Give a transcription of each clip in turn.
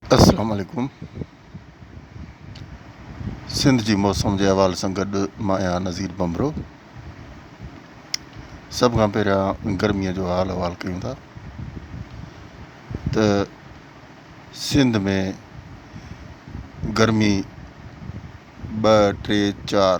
السلام عليڪم سنڌ جي موسم جي حوالي سان گڏ مان آهيان نظير بمبرو سڀ کان پهريان گرميء جو حال احوال ڪيون ٿا ته سنڌ ۾ گرمي ٻه ٽي چار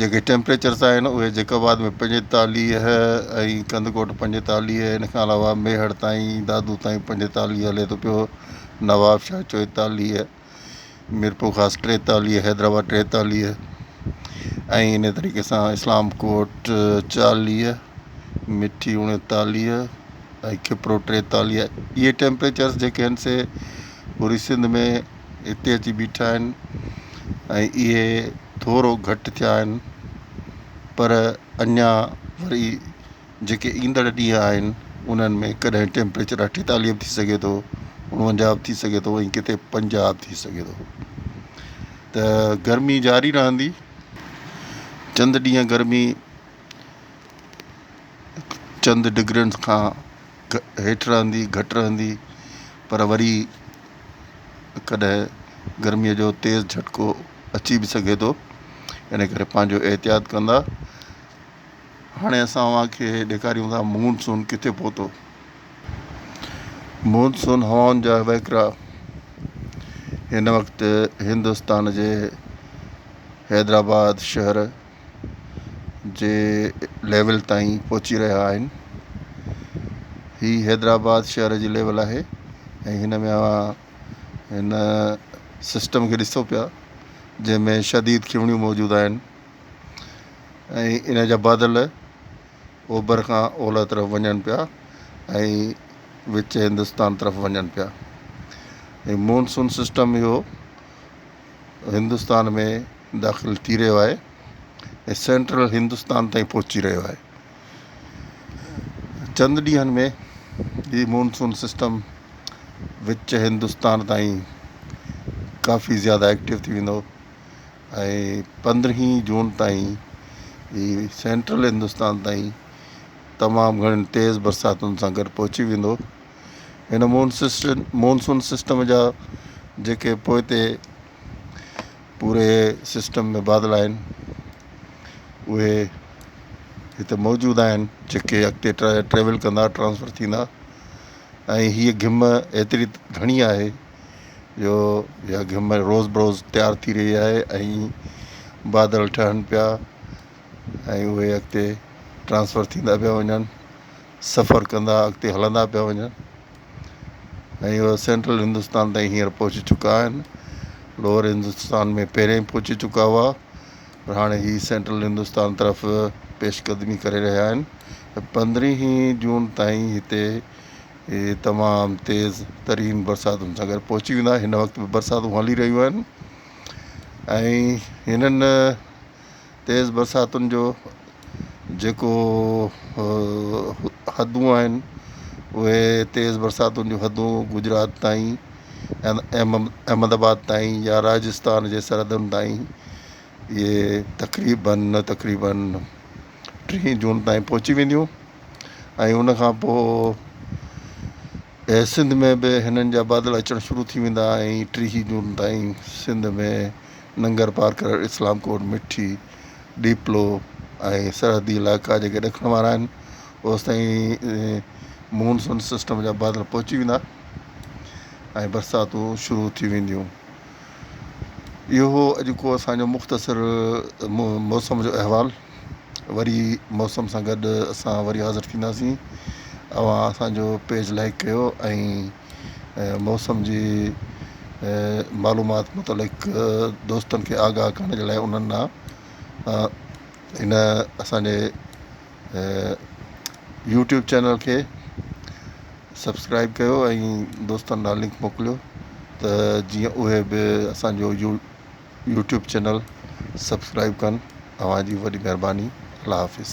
جيڪي ٽيمپريچرز آهن اهي جيڪب آباد ۾ پنجيتاليهه ۽ ڪنڌڪوٽ پنجيتاليهه ان کان علاوه ميهڙ تائين دادو تائين پنجيتاليهه هلي ٿو پيو نوابشاهه چوئيتاليهه ميرپورخاص ٽيتاليهه حيدرآباد ٽيتاليهه ۽ انهي طريقي سان اسلام ڪوٽ چاليهه مٺي اڻيتاليهه ۽ کپرو ٽيتاليهه اهي ٽيمپريچرز جيڪي آهن سي پوري سنڌ ۾ هتي اچي بيٺا آهن ۽ اهي ٿورو گهٽ ٿيا آهن پر اڃا وري جيڪي ايندڙ ڏينهن آهن انهن ۾ ڪڏهن ٽيمپريچر اٺيتاليهه به ٿي سگهي ٿو اڻونجاهه به ٿي سگهي ٿو ۽ ڪٿي پنجاهه به ٿي سگهي ٿو ته گرمي جاري رهندي چند ڏينهن گرمي چند ڊگرين کان هيٺ رهندي، گهٽ رهندي، پر وري ڪڏهن گرميء جو تيز جهٽڪو اچي به سگهي ٿو، ان ڪري پنهنجو احتياط ڪندا. هاڻي اسان اوهان کي ڏيکاريون ٿا مون سون ڪٿي پهتو. مون سون هوائن جا وهڪرا هن وقت هندستان جي حيدرآباد شهر جي ليول تائين پهچي رهيا آهن هي حيدرآباد شهر جي ليول آهي ۽ هن ۾ اوهان هن سسٽم کي ڏسو پيا جنهن ۾ شديد کيوڻيون موجود آهن ۽ ان جا بادل اوڀر کان اولهه طرف وڃن پيا ۽ وچ هندستان طرف وڃن پيا ۽ مونسون سسٽم اهو هندستان ۾ داخل ٿي رهيو آهي ۽ سينٽرل هندستان تائين پهچي رهيو آهي چند ڏينهن ۾ هي مونسون سسٽم وچ هندستان تائين ڪافي زياده ايڪٽو ٿي ويندو ۽ پندرهين جون تائين هي سينٽرل هندستان تائين تمام گهڻين تيز برساتن سان گڏ پهچي ويندو هن مونسسٽن مونسون سسٽم جا جيڪي پوئتي پوري سسٽم ۾ بادل آهن اهي هتي موجود آهن جيڪي اڳتي ٽريول ڪندا ٽرانسفر ٿيندا ۽ هي گهم ايتري گهڻي آهي جو اها گهم روز بروز تيار ٿي رهي آهي ۽ بادل ٺهن پيا ۽ اهي اڳتي ٽرانسفر ٿيندا پيا وڃن سفر ڪندا اڳتي هلندا پيا وڃن ۽ اهي سينٽرل هندستان تائين هينئر پهچي چڪا آهن لوئر هندستان ۾ پهريائين پهچي چڪا هئا پر هاڻي هي سينٽرل هندستان طرف پيش قدمي ڪري رهيا آهن پندرهين جون تائين هتي تمام تيز ترين برساتن سان گڏ پهچي ويندا هن وقت به برساتون هلي رهيون آهن ۽ هنن تيز برساتن جو جيڪو حدون آهن اهي تيز برساتن جون حدون گجرات تائين احمد آباد تائين يا راجستان جي سرحدن تائين اهي تقريبن تقريبن ٽيهين جون تائين پهچي وينديون ۽ ان کان پوء اهي سنڌ ۾ به هنن جا بادل اچڻ شروع ٿي ويندا ۽ ٽيهي جون تائين سنڌ ۾ ننگر پار ڪرڻ اسلام ڪوٽ مٺي ڏيپلو ۽ سرحدي علائقا جيڪي ڏکڻ وارا آهن اوستائين مون سون سسٽم جا بادل پهچي ويندا ۽ برساتون شروع ٿي وينديون اهو هو اڄ ڪو اسان جو مختصر موسم جو احوال وري موسم سان گڏ اسان وري حاضر ٿينداسين اوهان اسان جو پيج لائڪ ڪيو ۽ موسم جي معلومات متعلق دوستن کي آگاهه ڪرڻ جي لاء انهن ڏانهن ان اسان جي يوٽيوب چينل کي سبسڪرائب ڪيو ۽ دوستن ڏانهن لنڪ موڪليو ته جيئن اهي به اسان جو يو يوٽيوب چينل سبسڪرائب ڪن اوهان جي وڏي مهرباني الله حافظ.